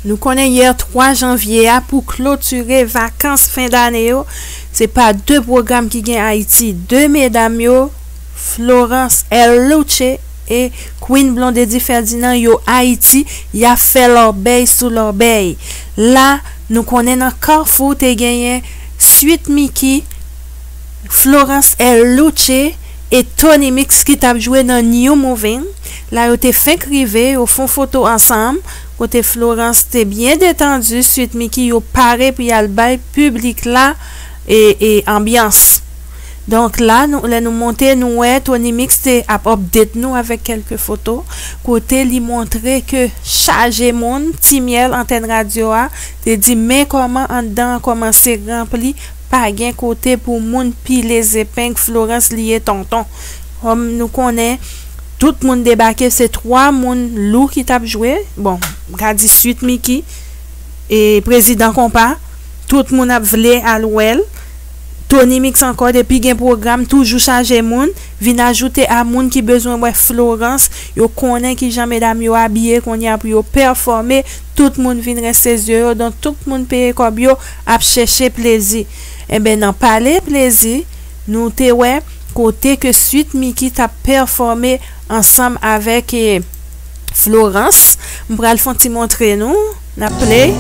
Nou konnen yè 3 janvye a pou klotire vakans fen dane yo se pa 2 pwogram ki gen Ayiti 2 medam yo Florence L. Louche. E Queen Blondedy Ferdinand yo Ayiti yap fè lòbèy sou lòbèy la nou konnen nan Carrefour te genyen Sweet Micky, Florence El Louche e Tony Mix ki tap jwe nan New Moving la yo te fenk rive yo fon foto ansanm kote Florence te byen detandu Sweet Micky yo pare pou yal bay piblik la anbyans. Donk la nou lè nou monte nou wè Tony Mix te ap update nou avèk kèlke foto kote li montre ke chaje moun Timyèl antèn radyo a te di men kòman anndan an kòmanse ranpli pa gen kote pou moun pile zepeng Florence li ye tonton kòm nou konnen tout moun debake se 3 moun lou ki t ap jwe bon m ka di Sweet Micky e Prezidan Konpa tout moun ap vle al wè l. Tonymix ankò depi gen pwogram toujou chaje moun, vin ajoute a moun ki bezwen wè Florence, yo konnen kijan medam yo abiye konnya pou yo pèfòme, tout moun vin reste zye yo don tout moun peye kòb yo ap chèche plezi. Enben nan pale plezi nou te wè kote ke Sweet Micky tap pèfòme ansanm avèk Florence, m pral fon ti montre nou. Nap play.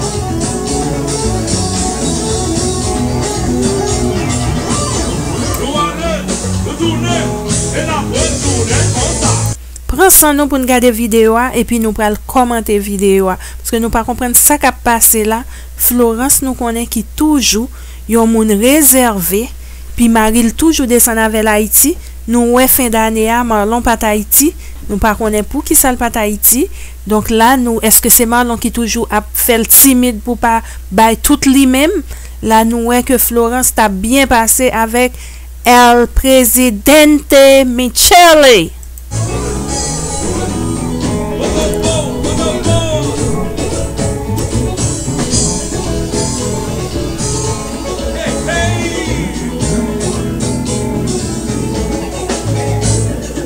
Pran san nou pou n gade videyo a epi nou pral kòmante videyo a paske nou pa konprann sa kap pase la Florence nou konnen ki toujou yon moun rezève pi mari l toujou desann avè l Ayiti nou wè fen dane a Marlon pat Ayiti nou pa konnen poukisa l pat Ayiti Donk la nou eske se Marlon ki toujou ap fèl timid pou pa bay tout li menm la nou wè ke Florence tap byen pase avèk El Presidente Michele.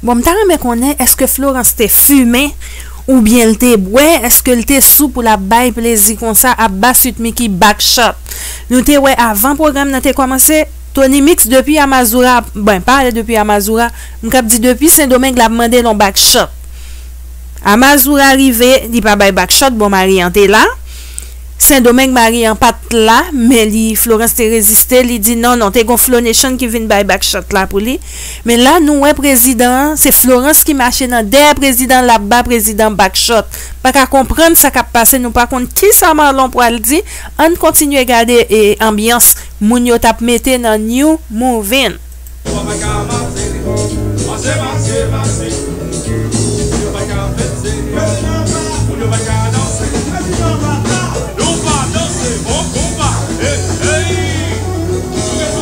Bon mta renmen konnen eske Florence te fumen ou byen l te bwè eske l te sou pou lap bay plezi konsa ap ba sweet micky back shot nou te wè avan program nan te komanse Tony mix depi a mazoura ap bwen pa ale depi a mazoura m kap di depi sendomeng lap mande l on back shot a mazoura rive li pa bay back shot bon mari an te la sendomeng mari an pat la men li Florence te reziste li di non non te gon flonation ki vin bay back shot la pou li Men la nou wè prezidan an se florans ki mache nan dèyè prezidan lap ba prezidan back shot paka konprann sa kap pase nou pa konn kisa marlon pwal di ann kontinye gade anbyans moun yo tap mete nan new movin. Yo pa ka mase li non Mase mase mase Moun yo pa ka fete li non Moun yo pa ka danse li Prezidan va a Nou va danse bon konpa Hey hey Souke souke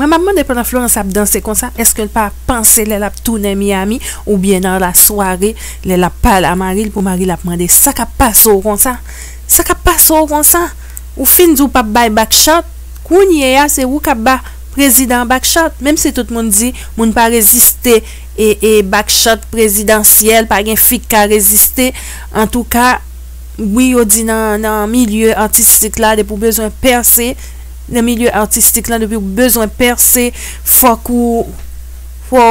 Mwen map mande pandan Florence ap danse konsa eske l pa panse lè lap tounen Miami oubyen nan la sware lè lap pale a mari l pou mari l ap mande sa kap pase w konsa sa kap pase w konsa ou fin di w pap bay back shot kounye a se ou kap ba Prezidan Bakchat, menm si tout moun di moun pa reziste e Bakchat prezidansyèl pa gen fi k ka reziste, antouka wi yo di nan milye atistik la depi w bezwen pèse nan milye atistik la depi w bezwen pèse fòk ou fò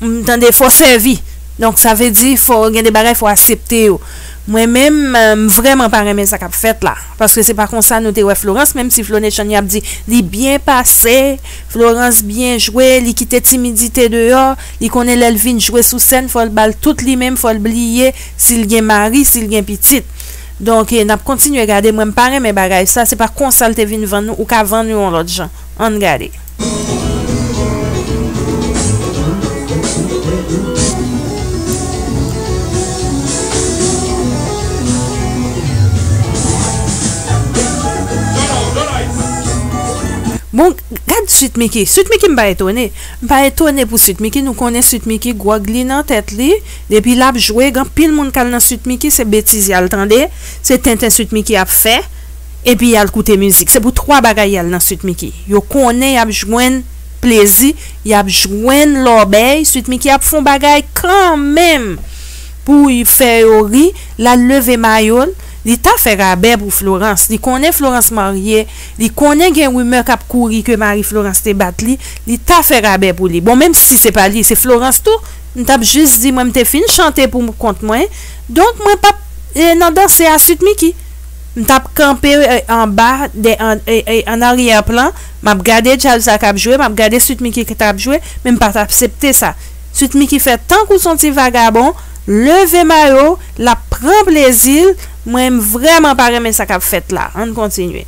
w tande fò w sèvi donk sa vle di fò gen de bagay fò w asepte yo mwen menm m vrèman pa renmen sa k ap fèt la. Paske se pa konsa nou te wè Florence menm si Flone Chanie ap di li byen pase, Florence byen jwe, li kite timidite deyò, li konnen lèl vin jwe sou sèn fòl bal tout li menm fòl bliye sil gen mari sil gen pitit donk nap kontinye gade mwen mpa renmen bagay sa se pa konsal te vin vann nou ou ka vann yon lòt jan. Ann gade. Bon gad Sweet Micky. Sweet Micky m pa etone. M pa etone pou Sweet Micky. Nou konnen Sweet Micky gwòg li nan tèt li. Depi l ap jwe, gen anpil moun k al nan Sweet Micky se betiz y al tande. Se tenten Sweet Micky ap fè. epi yal koute mizik se pou 3 bagay yal nan sweet micky yo konnen yap jwenn plezi yap jwenn lòbèy sweet micky ap fon bagay kanmenm poul fè yo ri lal leve mayol li ta fè rabè pou florans li konnen florans marye li konnen gen rimè kap kouri ke mari florans te bat li li ta fè rabè pou li bon menm si se pa li se florans tou mtap jis di mwen mte fin chante pou kont mwen donk mwen pap nan danse a sweet micky. M tap kanpe anba de an aryè plan map gade djaz sa kap jwe map gade Sweet Micky ki tap jwe men m pat aksepte sa Sweet Micky fè tankou son ti vagabon leve mayo l lap pran plezi l mwen m vrèman pa renmen sa kap fèt la ann kontinye.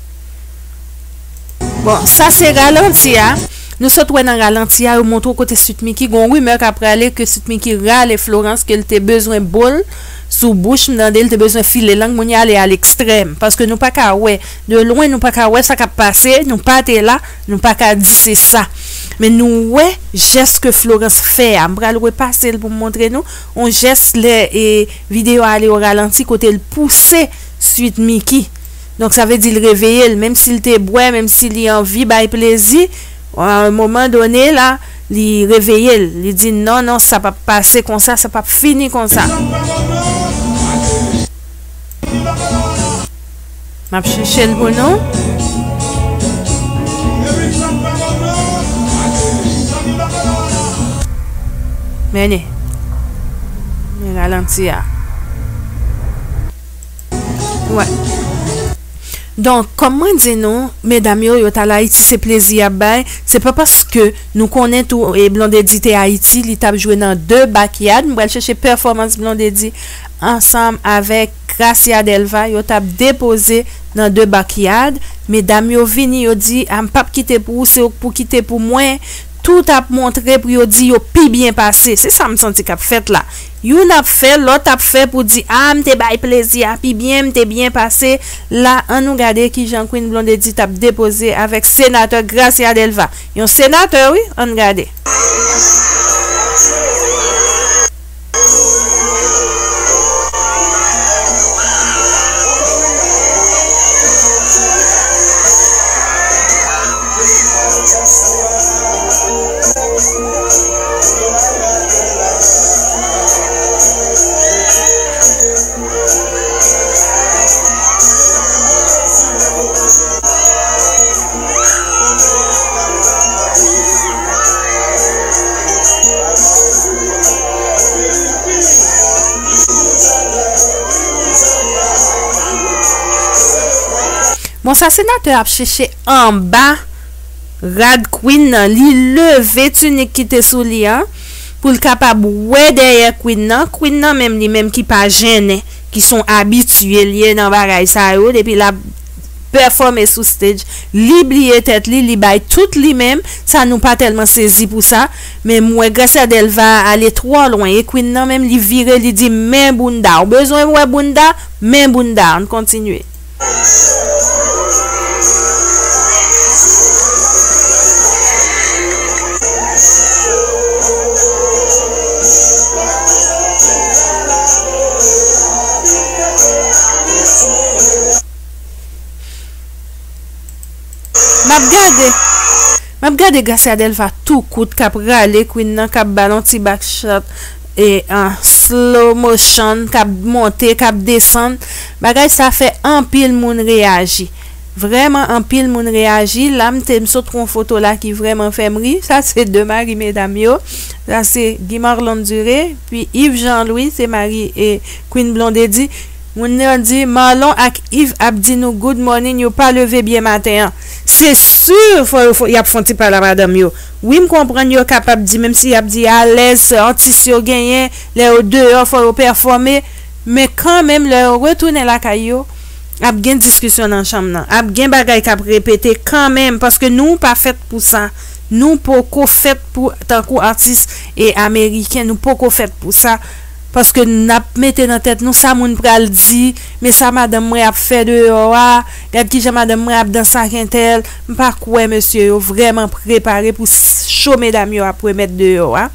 Bon sa se ralanti a Nou sot wè nan ralanti a yo montre w kote Sweet Micky gon rumeur ka prale ke Sweet Micky rale Florence ke l te bezwen bo l sou bouch m tande l te bezwen file lang moun y ale a lekstrèm paske nou pa ka wè de lwen nou pa ka wè sa kap pase nou pa te la nou pa ka di se sa men nou wè jès ke Florence fè a m pral repase l pou m montre nou on jès lè e video a ale o ralanti kote l pouse Sweet Micky. Donk sa vle di l reveye l menm si l te bwè, menm si li anvi bay plezi, a un moment donné la li reveye l, li di non non sa pap pase konsa, sa pap fini konsa. M ap chèche l pou nou. Men ni. Li ralanti a. Donk, kòm mwen di nou, medam yo, yo t al Ayiti se plezi y ap bay, se pa paske nou konnen tou Blondedy te Ayiti li t ap jwe nan de bakyad, m pral chèche pèfòmans Blondedy ansanm avèk Gracia Delva yo t ap depoze nan de bakyad, medam yo vini yo di a m p ap kite pou ou se ou k pou kite pou mwen, tout ap montre pou yo di yo pi byen pase, se sa m santi k ap fèt la. Youn ap fè, lòt ap fè pou di ah m te bay plezi a pi byen, m te byen pase la an nou gade kijan Queen Blondedy tap depoze avèk senatè Gracia Delva yon senatè wi ann gade. Bon sa senatè ap chèche anba. Rad Queen nan, li leve tunik ki te sou li an pou l kapab wè dèyè Queen nan, Queen nan menm li menm ki pa jennen, ki s on abitye l ye nan bagay sa yo depi l ap pèfòme sou stage, li bliye tèt li, li bay tout li menm, sa nou pa tèlman sezi pou sa, men m wè Gracia Delva a ale twò lwen e Queen nan menm li vire li di men bounda, ou bezwen wè bounda, men bounda an, n kontinye. Map gade Gracia Delva tou kout kap rale Queen nan kap bal on ti back shot. en slow motion kap monte kap desann bagay sa fè anpil moun reyaji vrèman anpil moun reyaji la m te m sot wè yon foto la ki vrèman fèm ri sa se 2 mari medam yo sa se Guy Marlon Duré pi Yves Jean Louis se mari Queen Blondedy moun yo di Marlon ak Yves ap di nou good morning yo pa leve byen maten an se sur fò yo fò yap fon ti pale a madanm yo. Wi m konprann yo kapab di menm si yap di alèz se atis yo genyen lè yo deyò fò yo pèfòme men kanmenm lè yo retounen lakay yo ap gen diskisyon nan chanm nan ap gen bagay kap repete kanmenm paske nou pa fèt pou sa nou poko fèt pou tankou atis e ameriken nou poko fèt pou sa paske nap mete nan tèt nou sa moun pral di men sa madanm mwen ap fè deyò a gad kijan madanm mwen ap danse ak entèl M pa kwè mesye yo vrèman prepare pou show medam yo ap remèt deyò a,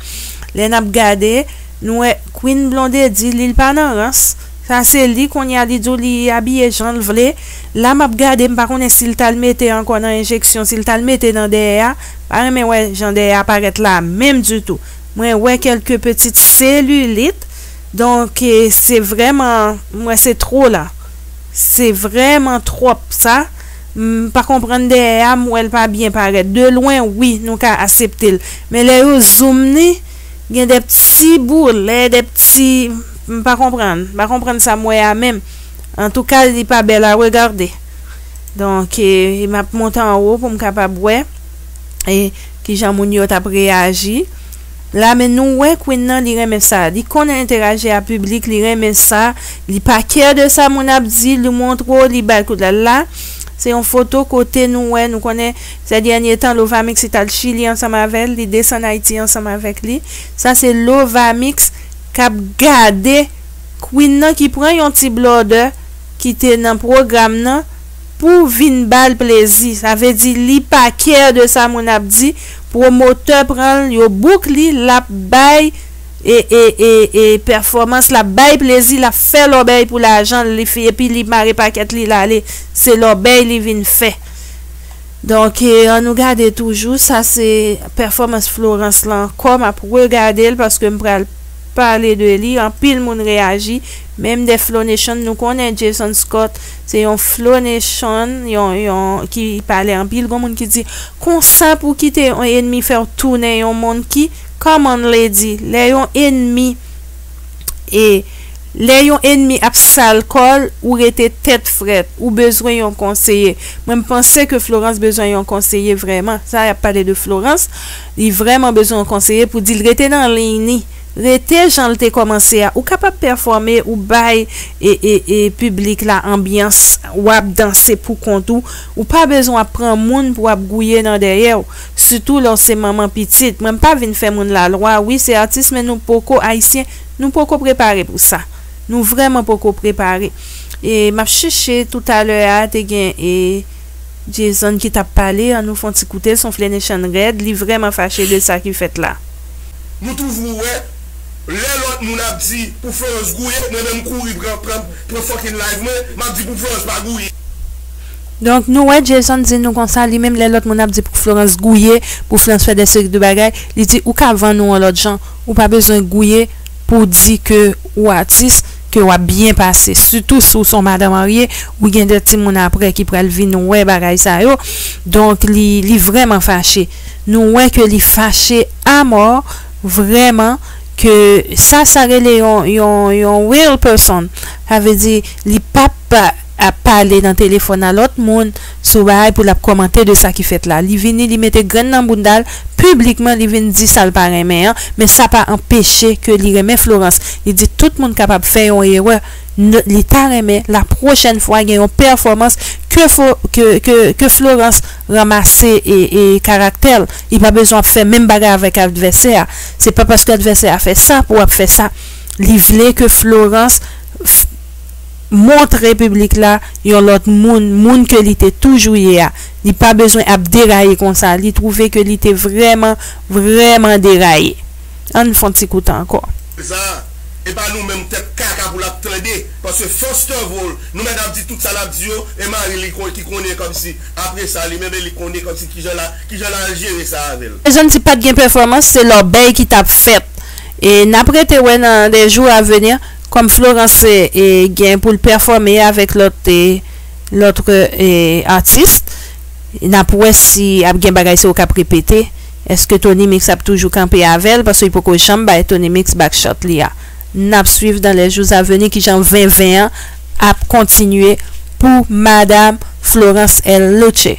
lè nap gade nou wè Queen Blondedy li l pa nan rans, sa se li konnya li di w li abiye jan l vle, la map gade m pa konnen si l tal mete ankò nan enjeksyon si l tal mete nan dèyè a, m pa renmen wè jan dèyè a parèt la menm ditou, mwen wè kèlke petit selulit donk se vrèman m wè se two la, se vrèman twòp sa. M pa konprann dèyè a m wèl pa byen parèt de lwen wi nou ka aseptel men lè yo zoom li gen de pti boule de pti m pa konprann m pa konprann sa m wè a menm antouka li pa bèl a regarde donk map monte anwo pou m kapab wè kijan moun yo tap reyaji. La men nou wè Queen nan li renmen sa li konn enteraji a piblik li renmen sa li pa care de sa moun ap di li montre w li bal kout la la se yon foto kote nou wè nou konnen sè dènye tan lovamix li tal chili ansanm avèl li desann ayiti ansanm avèk li sa se lovamix kap gade Queen nan ki pran yon ti blòdè ki te nan pwogram nan. Pou vin bal plezi. Sa vle di li pa care de sa moun ap di, promoteur pranl yo book li lap bay e e e e performance lap bay plezi lap fè lòbèy pou lajanl li fi epi li mare pakèt li lale se lòbèy li vin fè donk an nou gade toujou sa se performance Florence lan ankò map regadel paskem pral pale de li anpil moun reyaji menm de Flonation nou konnen Jason Scott Se yon flo nation yon yon ki pale anpil gon moun ki di konsa pou kite yon enmi fèw tounen yon moun ki common lady lè yon enmi e lè yon enmi ap sal kòl ou rete tèt frèt ou bezwen yon konseye mwen m panse ke Florence bezwen yon konseye vrèman sa yap pale de Florence li vrèman bezwen yon konseye pou dil rete nan liy ni Rete janl te komanse a ou kapab pèfòme ou bay e piblik la anbyans wap danse pou kont ou ou pa bezwen ap pran moun pou ap gouye nan dèyèw sitou lèw se manman pitit mwen pa vin fè moun lalwa wi se atis men nou poko ayisyen nou poko prepare pou sa nou vrèman poko prepare e map chèche toutalè a te gen e. Jason ki tap pale an nou fon ti koute sonfle Nation rèd li vrèman fache de sa ki fèt la. Nou toujou wè lè lòt moun ap di pou Florence gouye mwen menm kouri pran pran fucking live mwen map di pou Florence pa gouye. Donk nou wè Jason di nou konsa li menm lè lòt moun ap di pou Florence gouye pou Florence fè de seri de bagay li di ou ka vann ou an lòt jan ou pa bezwen gouye pou di ke ou atis ke wap byen pase sitou si w son madan marye ou gen 2 timoun aprè ki pral vin wè bagay sa yo donk li li vrèman fache nou wè ke li fache amò vrèman ke sa sa rele yon yon yon real person sa vle di li pap ap pale nan telefòn a lòt moun sou bagay pou lap kòmante de sa ki fèt la li vini li mete grenn nan boundal piblikman li vin di sal pa renmen an men sa pa anpeche ke li renmen Florence li di tout moun kapab fè yon erè nan li ta renmen la pwochèn fwa gen yon pèfòmans ke fo ke ke ke Florence ranmase e e karaktèl li pa bezwen ap fè menm bagay avèk advèsè a se pa paske advèsè a fè sa pou ap fè sa li vle ke Florence montre piblik la yon lòt moun, moun ke li te toujou ye a. Li pa bezwen ap deraye konsa, li twouve ke li te vrèman, vrèman deraye. Ann fon ti koute ankò. Sa a, e pa nou menm tèt kaka pou l'ap tande, paske first of all, nou mèt ap di tout sa l'ap di yo, e mari li kon, ki konnen kòmsi, apre sa li menm e li konnen kòmsi kijan la, kijan l'al jere sa avè l. Bezwen di pat gen pèfòmans, se lòbèy ki t'ap fèt. E n'ap rete wè nan les jours à venir, Kòm Florence gen pou l pèfòme avèk lòt lòt atis n ap wè si ap gen bagay sa yo k ap repete èske Tony Mix ap toujou kanpe avè l paske li poko janm bay Tony Mix back shot li a n ap swiv dans les jours à venir kijan venven an ap kontinye pou madame Florence L. Loutché.